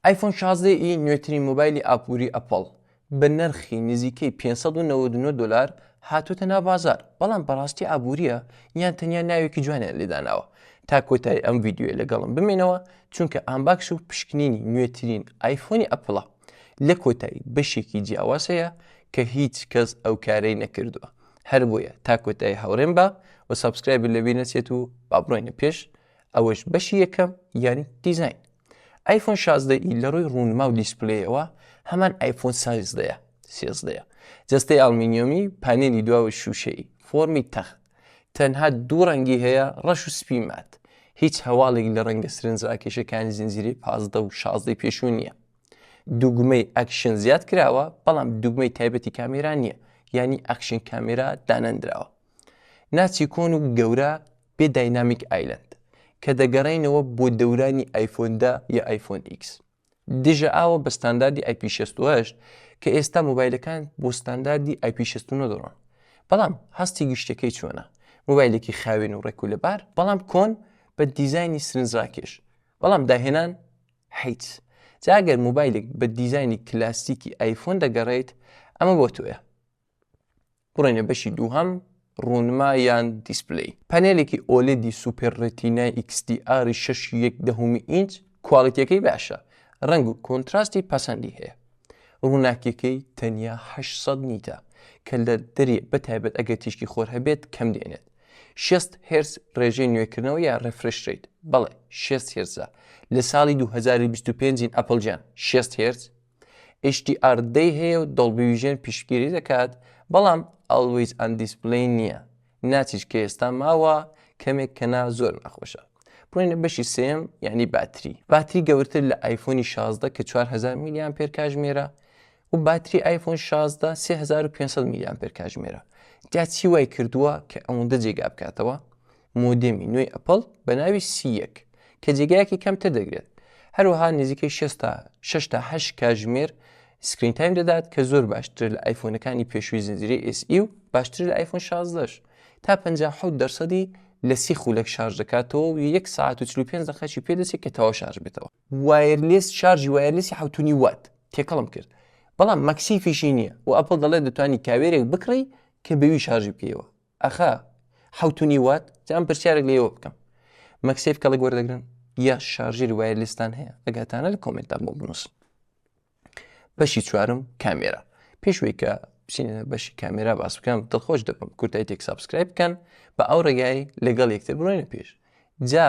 ئایفۆن شازدە ی نوێترین مۆبایلی ئابووری ئەپڵ بە نرخی نزیکەی پێنج سەد و نەوەد و نۆ دۆلار هاتووەتە ناو بازار بەڵام بەڕاستی ئابووریە یان تەنیا ناوێکی جوانیان لێ داناوە تا کۆتایی ئەم ڤیدیۆیە لەگەڵم بمێنەوە چونکە ئانباکس و پشکنینی نوێترین ئایفۆنی ئەپڵە لە کۆتایی بەشێکی جیاواز هەیە کە هیچ کەس ئەو کارەی نەکردووە هەر بۆیە تا کۆتایی هاوڕێم بە و سابسکرایبت لەبیر نەچێت و با بڕۆینە پێش ئەوەش بەشی یەکەم یانی دیزاین ئایفۆن شازدە ئی لە ڕووی ڕوونما و دیسپلەیەوە هەمان ئایفۆن سازدەیە سێزدەیە جەستەی ئەڵمینیۆمی پانێلی دواوە شووشەی فۆمی تەخت تەنها دوو ڕەنگی هەیە ڕەش و سپی مات هیچ هەواڵێک لە ڕەنگە سرنجڕاکێشەکانی زنجیرەی پازدە و شازدەی پێشوو نییە دوگمەی ئەکشن زیاد کراوە بەڵام دوگمەی تایبەتی کامێرا نییە ینی ئەکشن کامێرا دانەندراوە ناچی کۆن و گەورە بێ داینامیک ئایلەند کە دەگەڕێینەوە بۆ دەورانی ئایفۆن دە یا ئایفۆن ئیکس دژە ئاوە بە ستانداردی ئایپی شەست و هەشت کە ئێستا مۆبایلەکان بۆ ستانداردی ئایپی شەست و نۆ دەڕۆن بەڵام هەستی گشتەکەی چۆنە مۆبایلێکی خاوێن و ڕێک و لەبار بەڵام کۆن بە دیزایانی سرنجڕاکێش بەڵام داهێنان حیت جاگەر مۆبایلێک بە دیزایانی کلاسیکی ئایفۆن دەگەڕێیت ئەمە بۆ تۆیە بڕۆینە بەشی دووهەم ڕوونما یان دیسپلەی پەنێلێکی ئۆلێدی سوپێر ڕێتینای ئیکس دی ئاری شەش و یەک دەهەمی ئینچ کواڵیتیەکەی باشە ڕەنگ و کۆنتراستی پەسەندی هەیە ڕووناکیەکەی تەنیا هەشت سەد نیتە کە لە دەرێ بە تایبەت ئەگەر تیشکی خۆر هەبێت کەم دێنێت شێست هێرس ڕێژەی نوێکردنەوە یا ڕێفرش ڕیت بەڵێ شێست هێرزە لە ساڵی دوو هەزار و بیست و پێنج ین ئەپڵ جیان شێست هێرس HDR دەی هەیە و دۆڵبی ویژن پیشگیری دەکات بەڵام ئەڵویز ئەن دیسپلی نییە ناچیش کە ئێستا ماوە کەمێک کەنا زۆر ناخۆشە بڕینە بەشی سێم یعنی باتری باتری گەورتر لە ئایفۆنی 16 کە 4000 میلیان پێر کاژمێرە و باتری ئایفۆن 16 3500 میلیان پێر کاژمێرە جا چی وای کردووە کە ئەوەندە جێگا بکاتەوە مۆدێمی نوێی ئەپڵ بە ناوی سی یەک کە جێگایەکی کەمتر دەگرێت، هەروەها نزیکەی شەست تا شەش تا هەشت کاژمێر سکرین تایم دەدات کە زۆر باشترە لە ئایفۆنەکانی پێشووی زنجیرەی ئێس ئی و باشترە لە ئایفۆن شازدە ش تا پەنجا و حەوت دەرسەدی لە سی خولەک شارژ دەکاتەوە و یەک سەعات و چل و پێنج دەقەیەکی پێ دەچێت کە تەواو شارژ بێتەوە. وایرلێس شارژی وایرلێسی حەوت و نیو وات تێکەڵم کرد بەڵام مەکسیفیشی نییە و ئەپڵ دەڵێت دەتوانی کاوێرێک بکڕی کە بێوی شارژی بکەیەوە. ئەخە حەوت و نیو وات جا ئەم پرسیارێک لێوە بکەم مەکسیف کەڵک وەردەگرن یا شارژێری وایە لیستان هەیە ئەگاتانە لە کۆمنتدا بۆ بنووس بەشی چوارم کامێرا پێشوەی کە بچینە بەشی کامێرا باس بکەم دڵخۆش دەبم کورتای تێک سابسکرایب بکەن بە ئەو ڕێگای لەگەڵ یەکتر بڕۆینە پێش جا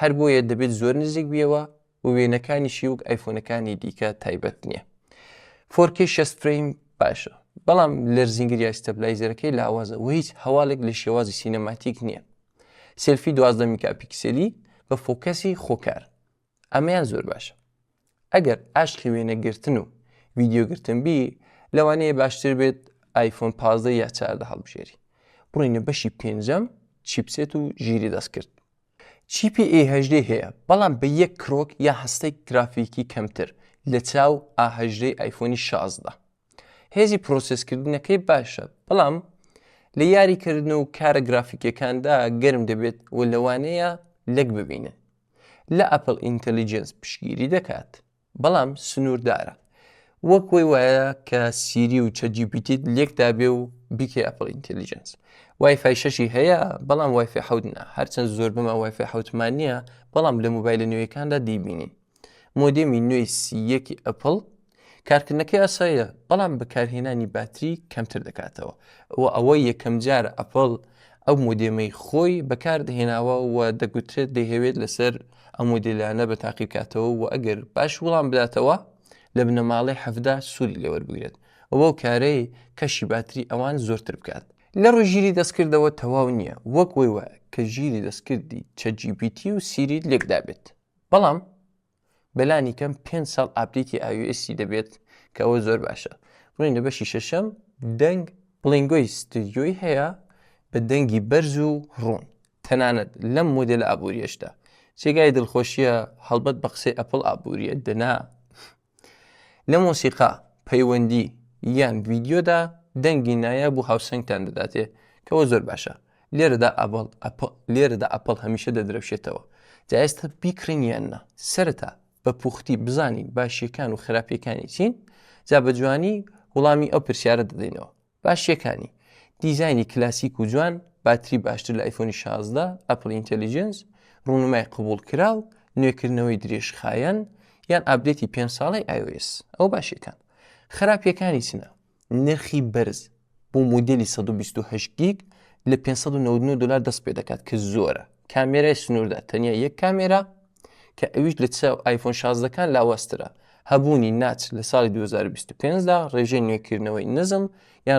هەر بۆیە دەبێت زۆر نزیک بیەوە و وێنەکانیشی وەک ئایفۆنەکانی دیکە تایبەت نییە فۆرکی شەست فریم باشە بەڵام لەرزینگری یاستەبلایزەرەکەی لاوازە و هیچ هەواڵێک لە شێوازی سینەماتیک نییە سلفی دوازدە میکاپیکسلی بە فۆکەسی خۆکار ئەمەیان زۆر باشە ئەگەر ئاشقی وێنەگرتن و ویددیوگرتن بی لەوانەیە باشتر بێت ئایفۆن پازدە یا چاردە هەڵبژێری بڕینە بەشی پێنجەم چیپسێت و ژیری دەست کرد چیپی ئێ هەژدەی هەیە بەڵام بە یەک کرۆک یا هەستەی گرافیکی کەمتر لە چاو ئا هەژدەی ئایفۆنی شازدە هێزی پرۆسێس کردنەکەی باشە بەڵام لە یاری کردن و کارە گرافیکیەکاندا گەرم دەبێت و لەوانەیە لەک ببینن لە ئەپل ئینتەلیجێنس پشگیری دەکات. بەڵام سنووردارە. وەک وەی وایە کە سیری و چەت جی پی تیت لێک دابێ و بیکەی ئەپڵ ئینتێلیجێنس. وای فای شەشی هەیە، بەڵام وای فای حەوت نا. هەرچەند زۆر بەمە وای فای حەوتمان نییە، بەڵام لە مۆبایلە نوێیەکاندا دەیبینین. مۆدێمی نوێی سی یەکی ئەپڵ، کارکردنەکەی ئاساییە، بەڵام بەکارهێنانی باتری کەمتر دەکاتەوە و ئەوە یەکەمجارە ئەپڵ ئەو مۆدێمەی خۆی بەکاردەهێناوە و دەگوترێت دەیهەوێت لەسەر ئەم مۆدێلانە بە تاقی بکاتەوە و ئەگەر باش وڵام بداتەوە لە بنەماڵەی حەڤدا سوودی لێوەربگرێت و بەو کارەی کەشی باتری ئەوان زۆرتر بکات. لە ڕووی ژیری دەستکردەوە تەواو نییە، وەک وەی وایە کە ژیری دەستکردی چەت جی پی تی و سیریت لێکدابێت، بەڵام بەلانی کەم پێ ساڵ ئاپدەیتی ئاویستی دەبێت کە ئەوە زۆر باشە بڵین لە بەشی شەشەم دەنگ بڵنگۆی ستودیۆی هەیە بە دەنگی بەرز و ڕوون تەنانەت لەم مۆدل ئابووریشدا جێگای دڵخۆشیە هەڵبەت بە قسەی ئەپل ئابووریە دەنا لە مۆسیقا پەیوەندی یان ویددیۆدا دەنگی نایە بۆ هاوسنگتان دەداتێ کەەوە زۆر باشە لێرەدا ئەبڵ ئەپ لێرەدا ئەپڵ هەمیشە دەدرەوشێتەوە جا ئێستا بیکڕین یان نا سەرەتا بە پوختی بزانین باشیەکان و خراپیەکانی چین جا بە جوانی وڵامی ئەو پرسیارە دەدەینەوە باشیەکانی دیزانی کلاسیک و جوان باتری باشتر لە ئایفۆنی 16 ئەپل ئینتەلیجنس ڕوونمای قبول کراو نوێکردنەوەی درێژخایەن یان ئابدێتی پێ ساڵی iOS ئەو باشیەکان خراپیەکانی چنە نرخی بەرز بۆ مودێلی سەد و بیست و هەشت گیگ لە پێنج سەد و نەوەد و نۆ دۆلار دەست پێ دەکات کە زۆرە کامێرای سنووردا تەنیا یەک کامێرا کە ئەویش لە چاو ئایفۆن شازدەکان لاوازترە هەبوونی ناچ لە ساڵی 2025 دا ڕێژەی نوێکردنەوەی نزم یان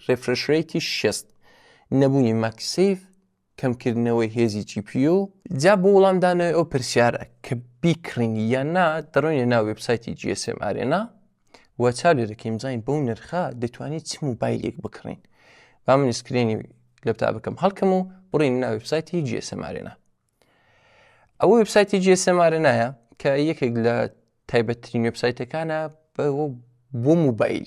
ڕێفرشرەیتی شێست نەبوونی ماکسیف کەمکردنەوەی هێزی جی پی یو. جا بۆ وڵام دانەوەی ئەو پرسیارە کە بیکڕین یان نا دەڕۆینە ناو وێبسایتی جی ئێس ئێم ئارێنا و چاو لێ دەکەین بزانین بەو نرخە دەتوانین چ موبایلێک بکڕین با من سکرێنی لەپتابەکەم هەڵکەم و بڕین ناو وێبسایتی جی ئێس ئێم ئارێنا ئەوە وێبسایتی جی ئێس ئێم ئارێنایە کە یەکێک لە تایبەتترین وێبسایتەکانە بۆ موبایل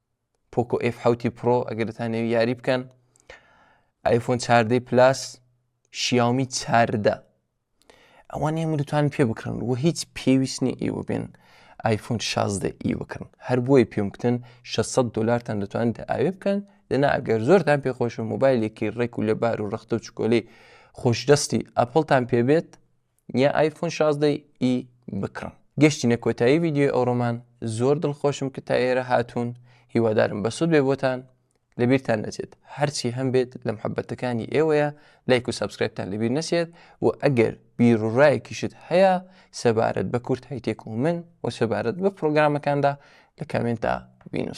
پۆکۆ ئف حوتی پرۆ ئەگەر دەتانەوی یاری بکەن ئایفۆن چاردەی پلاس شیاومی چاردە ئەوان هێمە دوتوان پێ بکڕن و هیچ پێویست نیە ئێوە بێن ئایفۆن 16 ئی بکڕن هەر بۆی پێم بکتن 600 دلارتان دەتوان ئاوێ بکەن دەنا ئەگەر زۆرتان پێخۆش و موبایلێکی ڕێک و لەبار و ڕختە و چکۆلی خۆشدەستی ئەپلتان پێبێت نیە ئایفۆن شازدە ی بکڕم. گەشتینە کۆتایی ڤیدیۆی ئەوڕۆمان زۆر دڵخۆشم کە تا ئێرە هاتوون هیوادارم بەسود بێ بۆتان لەبیرتان نەچێت هەرچی هەم بێت لە محبەتەکانی ئێوەیە لایک و سابسکرایبتان لەبیر نەچێت و ئەگەر بیرڕایەکیشت هەیە سەبارەت بە کورت هەیتێک و من و سەبارەت بە پرۆگرامەکاندا لە کامێنتا بینوس